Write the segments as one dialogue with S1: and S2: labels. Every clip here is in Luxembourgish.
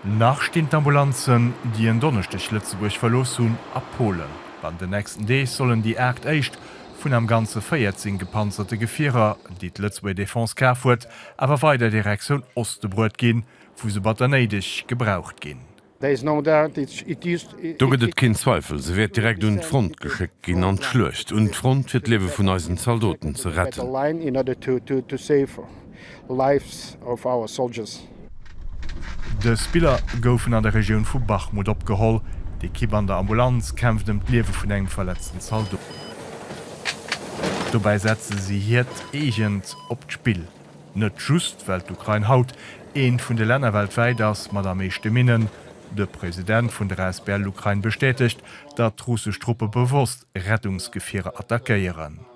S1: Nach stinn d'Ambulanzen, déi en Donneschdeg Lëtzebuerg verlooss hunn, a Polen. An den nächsten Deeg sollen déi aacht éischt vun am Ganze 14 gepanzerte Gefierer, déi d'Lëtzebuerger Defense kaf huet, awer weider Direktioun Oste bruet ginn, wou se batter néideg gebraucht ginn.
S2: Do gëtt et keen Zweifel, se wäert direkt un d'Front geschéckt ginn, an d'Schluecht un d'Front, fir d'Liewe vun eisen Zaldoten ze retten. Stop Lives of
S1: Our Soldiers. Dës Biller goufen an der Regioun vu Bachmut opgeholl. D'Ekipp an der Ambulanz kämpft ëm d'Liewe vun engem verletzten Zaldot. Dobäi setze si hiert eegent op d'Spill. Net just well d'Ukrain haut eent vun de Länner weltwäit ass mat am meeschte Minnen. De President vun der asbl Ukraine bestätegt, datt russesch Truppe bewosst Rettungsgefierer attackéieren.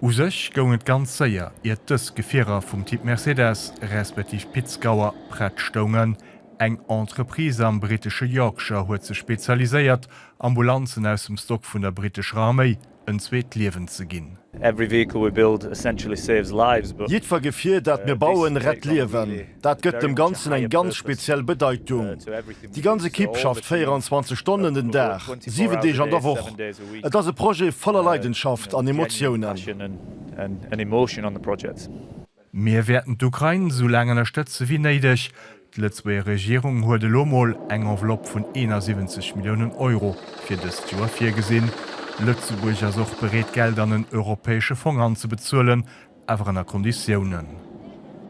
S3: U sech
S1: goung et ganz séier, iert dës Gefierer vum Typ Mercedes, respektiv Pitzgauer, prett stoungen. Eng Entreprise am brittesche Yorkshire huet sech spezialiséiert, Ambulanzen aus dem Stock vun der brittescher Arméi en zweet Liewen ze ginn.
S4: Jiddwer Gefier, dat mir bauen, rett Liewen. Dat gëtt dem Ganzen eng ganz speziell Bedeitung. Déi ganz Ekipp schafft 24 Stonnen den Dag, 7 Deeg an der Woch. Et ass e Projet voller Leidenschaft an Emotiounen.
S1: Mir wäerten d'Ukrain esou laang ënnerstëtze wéi néideg. D'Lëtzebuerger Regierung huet elo mol eng Enveloppe vun 71 Milliounen Euro fir dëst Joer virgesinn. Lëtzebuerg ass och bereet Geld an en europäesche Fong anzebezuelen, Awer ënner Konditiounen.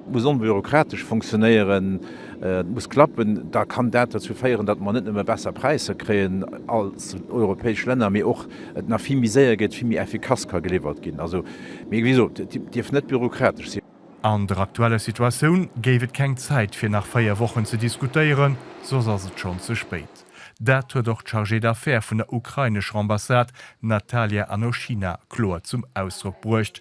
S1: Et muss
S5: onbürokratesch funktionéieren, et muss klappen. Da kann dat derzou féieren, datt mer net nëmme besser Präisser kréien als europäesch Länner, mee och et nach vill méi séier geet, vill méi effikass ka geliwwert ginn. Also, mee wéi gesot, et dierf net bürokratesch sinn. An der aktueller
S1: Situatioun géif et keng Zäit fir nach véier Wochen ze diskutéieren, soss ass et schonn ze spéit. Dat huet och d'Chargée d'affaires vun der ukrainescher Ambassade Natalia Anoshina kloer zum Ausdrock bruecht.